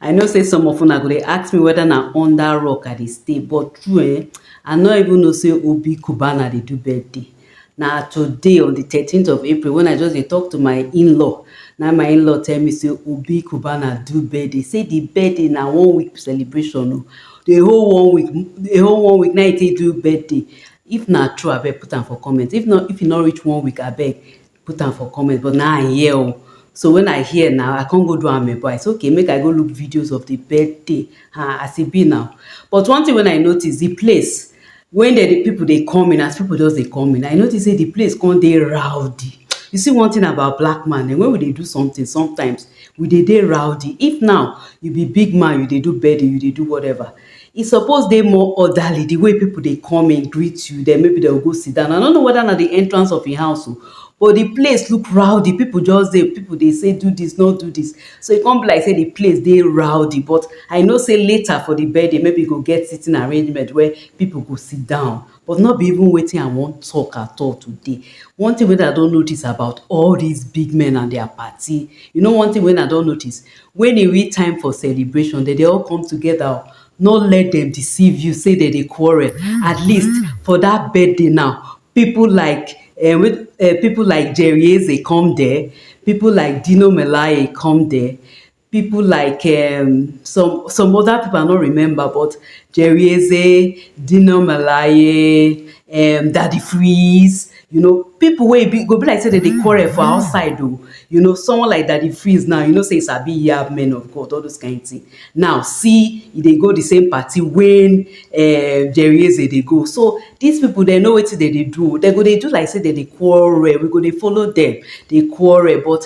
I know sey some of una go dey ask me whether na under rock I dey stay but true um I no even know sey Obi Cubana dey do birthday na today on the thirteenth of April when I just dey talk to my in-law na my in-law tell me sey Obi Cubana do birthday sey the birthday na one week celebration oh the whole one week the whole one week na him take do birthday if na true abeg put am for comment if no if e no reach one week abeg put am for comment but now I hear oh. So when I hear now, I can't go do am but I say okay, make I go look videos of the birthday uh, as it be now. But one thing when I notice, the place when the, the people they come in, as people just they come in, I notice say the place come they rowdy. You see one thing about black man, and when we they do something, sometimes we they they rowdy. If now you be big man, you they do birthday, you they do whatever. E suppose dey more orderly, di way pipu dey come in greet you, den maybe den go go sit down, I no know weda na di entrance of im house o, but di place look rowdy, pipu just dey, pipu dey sey do dis, no do dis, so e kon be like sey di place dey rowdy, but I know sey later for di birthday, maybe e go get sitting arrangement where pipu go sit down. But no be even wetin I wan talk at all today. One thing wey I don notice about all these big men and their party, you know one thing wey I don notice? When e reach time for celebration, dem dey all come together o. No let dem deceive you say dem dey quarrel. At least for that birthday now, people like um um people like Jerry Eze come there, people like Dino Melaye come there. pipo like um some some oda pipo i no remember but Jerry Eze, Dino Melaye, um Daddy Freeze, you know pipo wey e be go be like sey dem dey quarrel for outside o, you know someone like Daddy Freeze now you know sey e sabi yab men of God all dose kain tin, now see e dey go di same party wey um Jerry Eze dey go so dis pipo dem know wetin dem dey do o, dem go dey do like sey dem dey quarrel we go dey follow dem dey quarrel but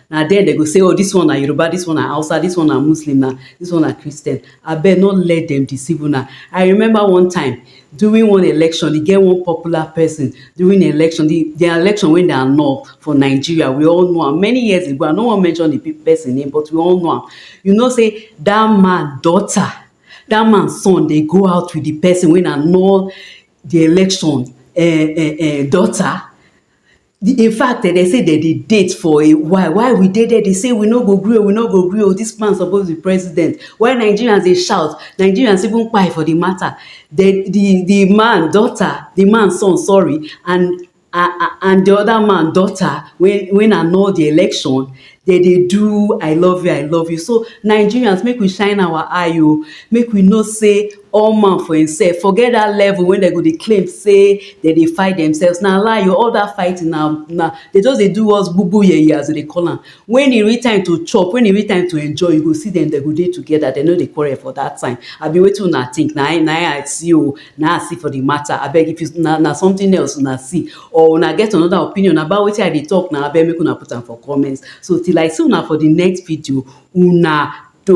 na there dem go say oh this one na Yoruba this one na Hausa this one na Muslim na this one na Christian abeg no let them deceive una I remember one time during one election e get one popular person during the election the, the election wey dey annul for Nigeria we all know am many years ago I no wan mention the person name but we all know am you know say that man daughter that man son dey go out with the person wey annul the election uh, uh, uh, daughter In fact dem say dem dey date for a while, while we dey there dey say we no go gree oh, we no go gree oh, dis man suppose be president. While Nigerians dey shout, Nigerians even kpai for di matter. Di di di man daughter, di man son sorry and and di other man daughter wey wey annul di election, dem dey do I love you I love you so Nigerians make we shine our eye o make we know say all man for himself forget that level wey dem go dey claim say dem dey fight themselves na lie o all that fighting na na dem just dey do us gbugbu yeye as dem dey call am when e reach time to chop when e reach time to enjoy you go see dem dem go dey together dem no dey quarrel for that time abi wetin una think na im na im I see o na im I see for the matter abeg if you na na something else una see or una get another opinion about wetin I dey talk now abeg make una put am for comment so till I see una for the next video una do.